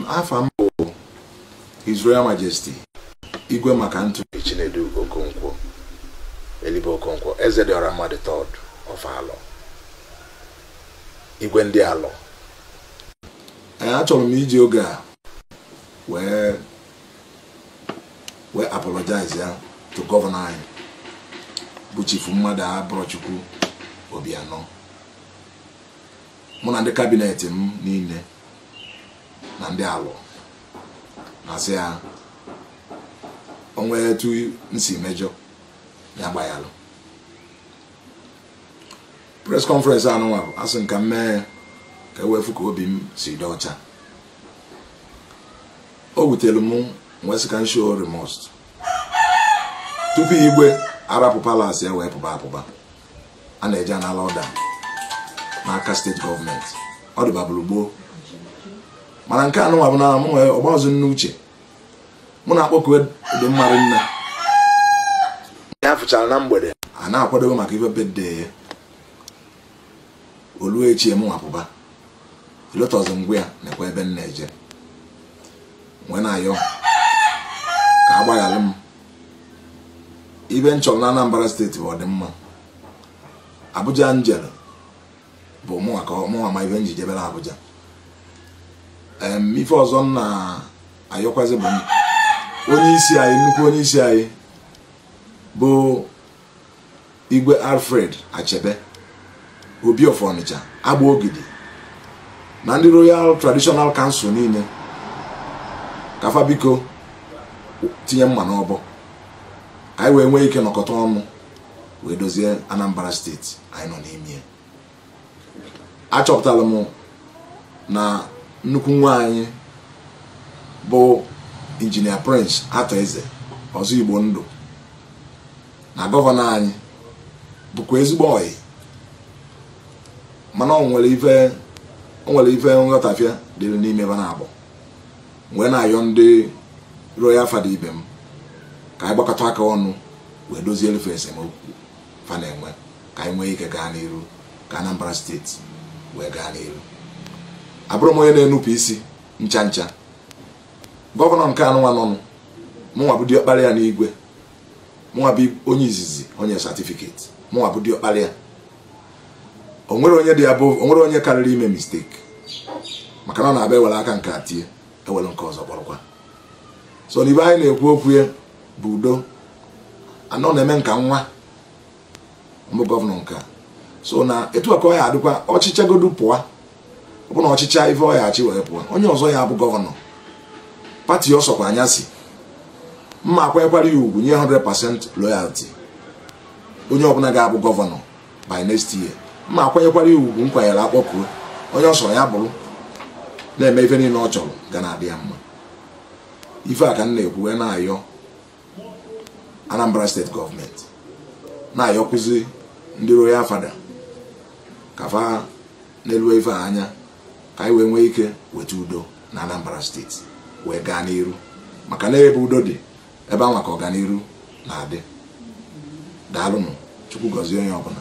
afa m bụ His Royal Majesty Igwe MacAnthony Chinedu Okonkwo Elibe Okonkwo Ezediọramma the third of Alọ igwe ndị alọ achọrọ m iji oge a wee apologize ya to gọvanọ anyị bụ chifu Mmadụabụrọchukwu Obianọ mụ na ndị kabinet m niile na ndị Alọ na-asị ya o nwee etu m si mejọ ya gbayalụ press conference anụnwa bụ asị m ka m mee ka e wee fụ ka obi m si dị ọcha o wutere m m wee sị ka m show remorse tupu igwe arapụ palas ya wee pụba apụba a na-eje anala ọda n'aka steeti gọọmenti ọ dịbabụrụ gboo mana nke anụnwa bụ na mụ nwee ọgbazụ n'uche mụ na Akpọkue dị mma mụ na ya fụchara na mgbede a na-akwadobe maka ife birthday ya o lue echi m wee pụba elotọzi m gwa ya nekwa ebe m na-eje m wee na-ayọ ka a gbaghalụ m ife m chọrọ na Anambra steeti bụ ọdịmma Abuja m jere bụ mụnwa ka mụnwa ma ife m ji jebe na Abuja ife ọzọ m na-ayọkwazi bụ onye isi anyị nnukwu onye isi anyị bụ igwe alfred achebe obi of ọnịcha agbogidi na ndị royal traditional council niile ka fa biko tinye mma n'ọbọ ka anyị wee nwee ike nọkọta ọnụ wee dozie anambra steeti anyị nọ n'ime achọpụtara m na nnukwu nwa anyị bụ injinia prince Arthur Eze ọzọ igbo ndụ na gọvanọ anyị bụkwa ezigbo ọyị mana o nwere ife o nwere ife nghọtafie dịrị n'ime fa naabọ m wee na-ayọ ndị royal fada ibe m ka anyị gbakọta aka ọnụ wee dozielu fa esemokwu fa na-enwe ka anyị nwee ike gaa n'iru ka Anambra steeti wee gaa n'iru abụrụ m onye na-enupụ isi ncha ncha gọvanọ nke anụnwa nọnụ mụnwa bụ diọkpara ya n'igwe mụnwa bụ onye izizi o nye satifiketi mụnwa bụ diọkpara ya o nwerọ onye dị above o nwerọ onye karịrị ime misteki maka na ọ na-abụ e were aka nke a tie e were nke ọzọ kpọrọkwa so n'ife anyị na-ekwu okwu ya bụ udo a nọ na-eme nke a nwa bụ gọvanọ nke a so na etu a ka ọ ya-adịkwa ọ chịchagodu pụọ ọ bụ na ọ chịcha ife ọ ya-achị wee pụọ onye ọzọ ya-abụ gọvanọ pati ọ sọkwa nya si m ma-akwanyekwara ya ugwu nye 100% loyalty onye ọbụla ga-abụ gọvanọ by next year m ma-akwanyekwara ya ugwu m kwanyere akpọkuo onye ọ sọrọ ya bụrụ na-eme ife niile ọ chọrọ ga na-adị ya mma ife a ka m na-ekwu wee na-ayọ Anambra steeti gọọmenti na-ayọkwuzi ndị royal father ka fa nelu ife a anya ka anyị wee nwee ike weta udo na Anambra steeti wee gaa n'iru maka na ebe udo dị ebe anwa ka ọganiru na-adị daalụnụ chukwu gọzie onye ọbụla